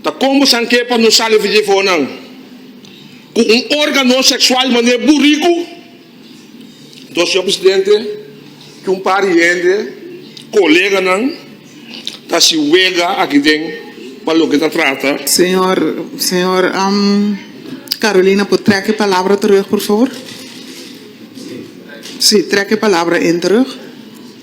Ta kon bo san ke pa no sali fiji fohonan ku un organo seksual manera buriku? Entonces señor presidente ku un par di hende koleganan ta si wega aki den pa loke ta trata. Señor, señor Carolina por trek e palabra terug por favor. Si trek e palabra in terug.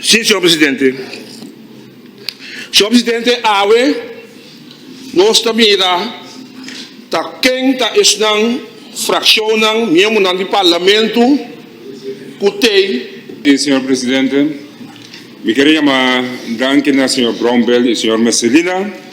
Si, señor presidente. Señor presidente, awe nos ta mira ta ken ta esnan fraccionnan, miembronan di Parlamento cu t'ey. Si, señor presidente. Mi quier yama danki na señor Brombell y señor Messelina.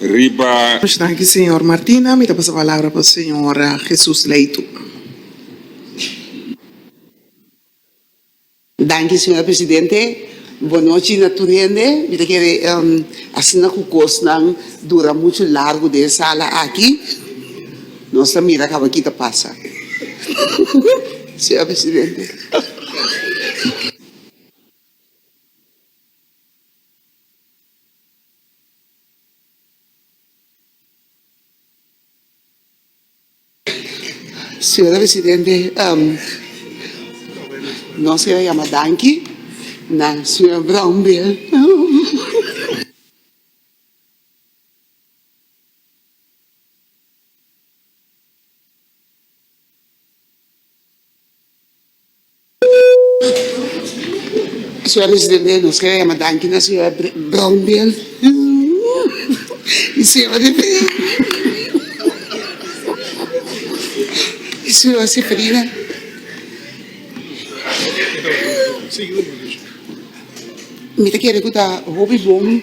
riba. Much danki señor Martina, mi ta pasa palabra pa señor Jesus Leitu. Danki señor presidente, bon nochi na tur hende, mi ta kere asina ku kosnan dura muchu largu den e sala aki, nos ta mira kaba ki ta pasa señor presidente. Señora Presidente, nos quiero yama danki na señora Brownbill (Riso). Señor Presidente nos quiere yama danki na señor Brownbill y señor y señor Seferina. Mi ta kere ku ta hopi bon.